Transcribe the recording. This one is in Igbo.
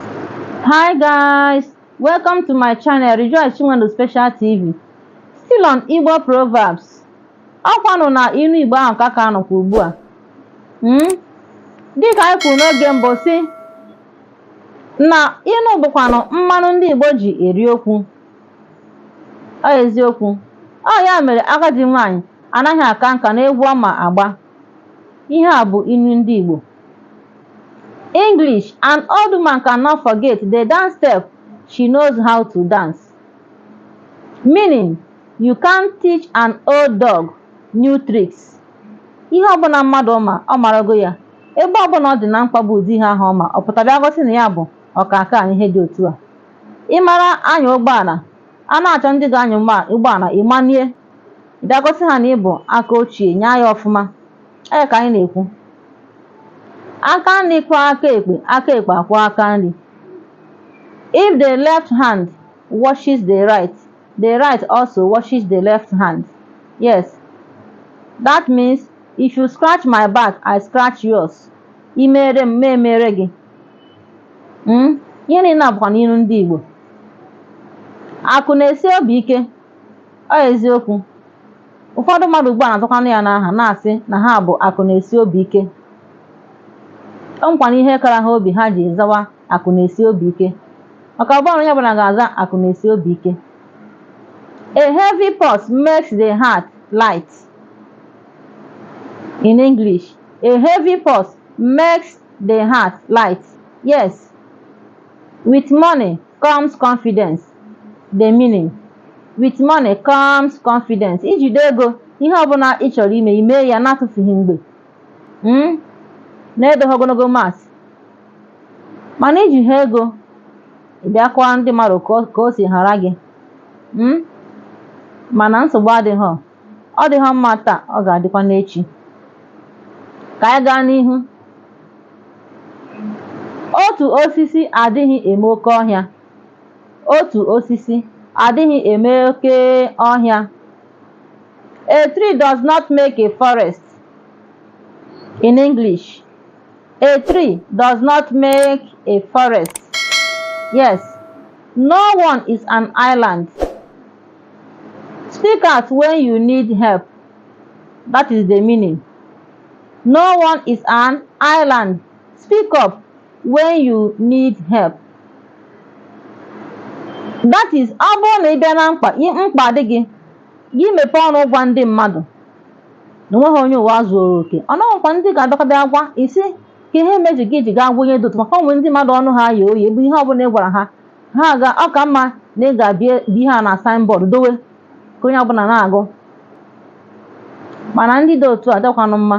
Hi guys, welcome to my channel Rejoice Chinwendu Special TV. Still on Igbo Proverbs. Ọkwanụ na inu Igbo ahụ ka a ka nọkwa ugbu a. Hmm? Dịka anyị kwuru n'oge mbụ sị na inu bụkwanụ mmanụ ndị Igbo ji eri okwu. Ọ eziokwu. Ọ ya mere agadi nwaanyị anaghị aka nka n'egwu ọ ma agba. Ihe a bụ inu ndị Igbo. English, An old woman cannot forget the dance step she knows how to dance. Meaning, you can't teach an old dog new tricks. Ihe ọbụla mmadụ ma ọ marago ya ebe ọbụla ọ dị na mkpa bụ ụdị ihe ahụ ọ ma ọ pụta bịa gosi na ya bụ ọkaka na ihe dị otu a. Ị mara anya ụgbọala a na-achọ ndị ga-anya ụgbọala ị manie bịa gosi ha na ị bụ aka ochie nyaa ya ọfụma. ee ka anyị na-ekwu aka nri kwọọ aka ekpe aka ekpe akwọọ aka nri if the left hand washes the right the right also washes the left hand yes that means if you scratch my back i scratch yours i mere m ma emere gị Mm? ihe niile a bụkwanụ ilu ndị igbo akụ na-esi obi ike ọ eziokwu Ụfọdụ mmadụ ugbu a na-azakwanụ ya n'aha na-asị na ha bụ akụ na-esi obi ike. O nwekwanụ ihe kara ha obi ha ji zawa akụ na-esi obi ike. Maka ọ bụhanụ onye ọbụla ga-aza akụ na-esi obi ike. A heavy purse makes the heart light. In English, a heavy purse makes the heart light. Yes, with money comes confidence the meaning with money comes confidence i jide ego ihe ọbụla ị chọrọ ime i mee ya na-atụfughị mgbe mm? na-edoghị ogologo mas mana i jiha ego ị bịa kọwa ndị mmadụ ka o- ka o si hara gị mm? mana nsogbu adịghị ọ dịghị mma taa ọ ga-adịkwa n'echi ka anyị gaa n'ihu otu osisi adịghị eme oke ọhịa otu osisi adịghị eme oke ọhịa a tree does not make a forest in English a tree does not make a forest yes no one is an island Speak out when you need help. That is the meaning. No one is an island. Speak up when you need help. That is ọ bụrụ na ị bịa na mkpa i- mkpa dị gị gị mepee ọnụ gwa ndị mmadụ na onweghị onye ụwa zuoro oke ọ nọghịkwa ndị ga-abịakọbịa agwa isi ka ihe meji gị ji gaa gwa onye dị otu a maka o nwere ndị mmadụ ọnụ ha ya oyi bụ ihe ọbụla ị gwara ha ha aga ọ ka mma na ị ga-ebi ihe a na signboard dowe ka onye ọbụla na-agụ mana ndị dị otu a dịkwanụ mma